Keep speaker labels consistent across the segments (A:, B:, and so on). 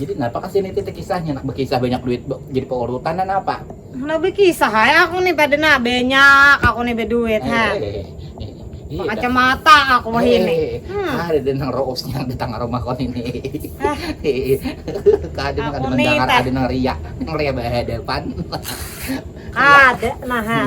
A: Jadi napa kasih ini
B: titik kisahnya nak berkisah banyak duit jadi peorutan dan apa? Nak berkisah
A: ya aku nih pada nak banyak aku nih berduit eh, ha. Eh, Iya, kacamata aku mah eh, ini. Hmm. Ada di nang
B: roos yang di tangga rumah kon ini. Ah. Kada nang ada mendengar, ada nang
A: riak,
B: nang riak berhadapan.
A: Ada nah.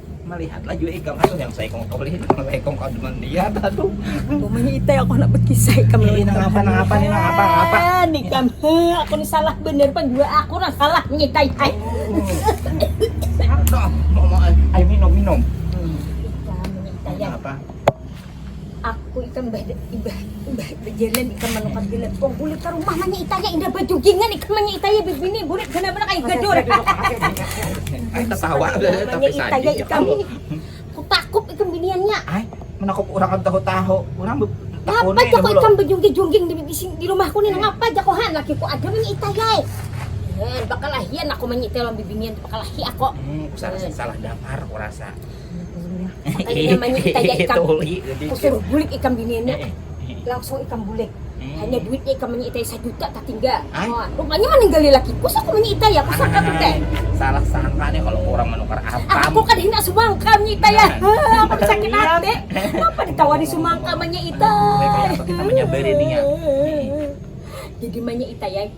C: melihatlah
B: juga ikam aduh yang saya kong kong lihat kalau ikam kau demen dia aduh pokoknya itu
C: aku nak berkisah ikam ini nang apa nang apa ini nang
B: apa nang apa
C: nih kam aku nih salah bener pan gua aku nang salah nyitai hai
B: ayo minum minum
C: hmm. apa Aku ikam bah bah bah bajalan ikam manukat gila. Wong bulik ka rumah manya itaya indah bajugingan ikam manya itaya bibini bulik gana mana kayak gadur. Ay,
B: ketawa tapi itaya ikam.
C: Kutakup ikam biniannya. Ay, menakup
B: orang kan tahu-tahu. Orang Ngapa aja kok
C: ikam bejungging-jungging di, di, di rumahku nih? Ngapa aja kok han? Lakiku ada manya itaya. Eh, bakalahian aku manya itaya lawan bibinian bakalahi aku. Hmm, salah salah
B: dapar kurasa.
C: Makanya namanya kita ya ikam. Kusur bulik ikam biniannya. Langsung ikam bulik. Hanya duitnya ikam manya itai sajuta tatinggal. Oh, rupanya maninggali laki. Kusur kumanya itai ya, kusur kata teh. Salah sangka
B: nih kalau orang menukar ah, apam. Aku kan hina sumangka
C: manya itai ya. Heh, aku sakit hati. Kenapa ditawari sumangka manya itai? Kita manya
B: beri nih ya.
C: Jadi manya itai ya.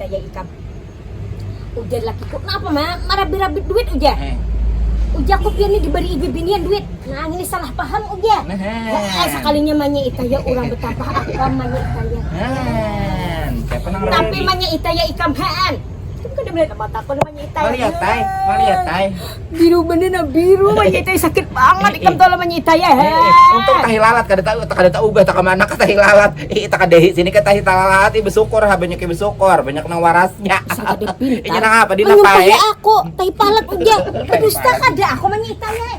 B: Kaya
C: ikam. Ujar lakiku, napa ma, marabit-rabit duit ujar. Ujakku, pian ni dibari'i bibinian duit. Nah ngini salah paham ujar. He'eh, sakalinya manya'i kaya urang betampah akam manya'i kaya ikam. Tapi manya'i kaya ikam haan. Ikam kada malihat apa takon manya'i kaya ikam. Malihat ai,
B: malihat ai. Biru bener
C: nah biru manyitai sakit banget ikam tuh manyitai ya. Untung tahi lalat
B: kada tahu kada tahu ubah takam anak tahi lalat. Ih ita kada sini ke tahi lalat ih bersyukur ha banyak yang bersyukur banyak nang warasnya. Inya
C: nang apa di napa
B: eh. aku
C: tahi palat udah dusta kada aku manyitai eh.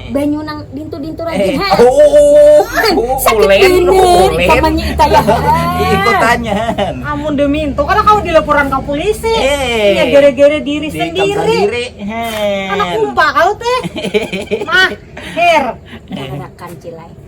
C: banyu nang dintu-dintu lagi ha. Oh, Sakit ulen, bini,
B: ulen. kamannya
C: ita ya. Ikutanyan.
B: Amun
A: demi itu kada kawa dilaporan ka polisi. Eh. Ya gara-gara diri Diri sendiri. sendiri. Anak Hen. kumpa kau teh. Mah, her.
C: Darakan
A: cilai.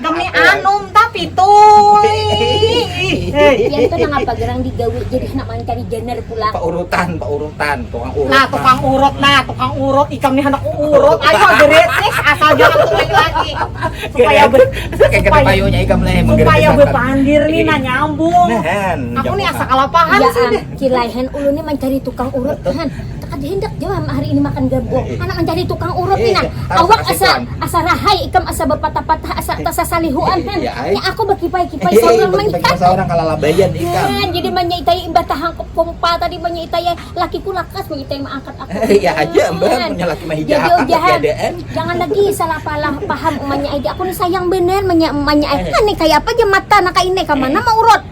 A: Demi anum tapi tuh.
C: Pian tuh nangapa gerang digawi jadi handak mancari janar pulang. Paurutan,
B: paurutan, tukang urut. Nah, tukang urut nah,
A: tukang urut ikam nih handak urut. Ayo gerit nih, asal jangan mulai
B: lagi. Supaya ber supaya bepandir
A: nih nah nyambung. Aku nih asa kalapahan sih. Kilai
C: han
A: ulun nih mancari
C: tukang urut han. Kada handak jua am hari ini makan gabung, handak mancari tukang urut ni nah, awak asa asa rahay ikam asa bapatah-patah asa tasasalihuan han, nya aku bakipai-kipai saurang mangitai,
B: nah jadi manyitai
C: imbah tahangkup kumpal tadi manyitai lakiku lakas manyitai maangkat aku
B: nah, jadi ujahan jangan lagi salah
C: palah paham umanya ai di aku ni sayang banar manya umanya ai, ngini kayapa ja mata nang kaini kamana maurut.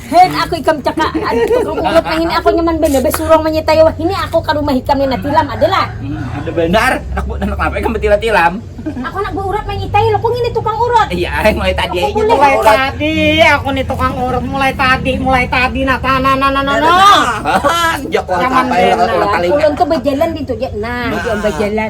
C: Hek, aku ikam caka aduh tukang urut nang ini aku nyaman banar basurung manyitai wah ini aku ka rumah ikam ni nah tilam ada lah. Hmm, ada banar.
B: Anak bu, anak apa ikam betila tilam? aku anak bu urut
C: manyitai lo, ku ngini tukang urut. Iya, eh, mulai tadi aja
B: tukang mulai urut. tadi
A: aku ni tukang urut mulai tadi mulai tadi nah nah nah nah nah. nah. Sejak
B: kau sampai lah
A: kalau kali.
B: Ulun tuh
A: berjalan
B: di tuh
C: ya. Nah, nah. berjalan.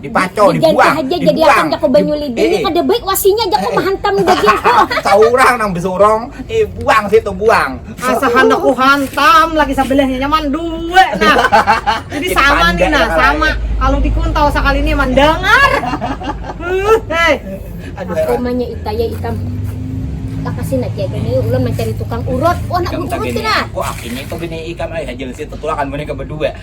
C: dipaco
B: dibuang aja jadi
C: akan
B: jako banyu
C: lidi eh, eh. kada baik wasinya jako eh, mahantam dagingku seorang nang
B: besorong eh buang situ buang asa hendak ku
A: hantam lagi sebelahnya nyaman dua nah jadi sama nih nah sama kalau dikuntau sekali ini mendengar hei
C: aduh aku manya itaya
A: itam
C: lakasin aja gini ulun mencari tukang urut wah nak urut sih nah wah
B: ini tuh
C: gini
B: ikan ay hajar sih tetulakan mereka berdua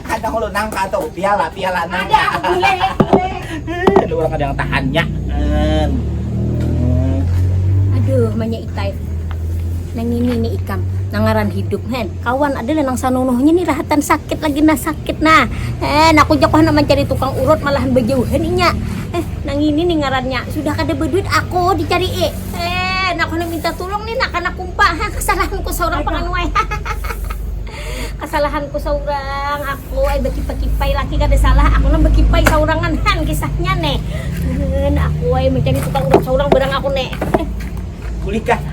A: Kada hulu nangka
B: tu, piala, piala nangka. Ada,
A: bule, bule. Ada
B: urang kada yang tahannya.
C: Aduh, manya itai. Nang ini ni ikam, nang ngaran hidup hen. Kawan ada lah nang sanunuhnya ni rahatan sakit lagi nah sakit nah. Hen, aku ja kok handak mancari tukang urut malahan bajauhan inya. Eh, nang ini ni ngarannya, sudah kada baduit aku dicarii. Hen, aku handak minta tulung ni nak kana kumpa. Hah, kasalahanku saurang panganuai. Kasalahanku saurang aku ai bakipai-kipai laki kada salah aku nang bakipai saurangan han kisahnya ne, hun aku ai macam ni tukang urap
B: saurang
C: barang aku ne. Kulikah.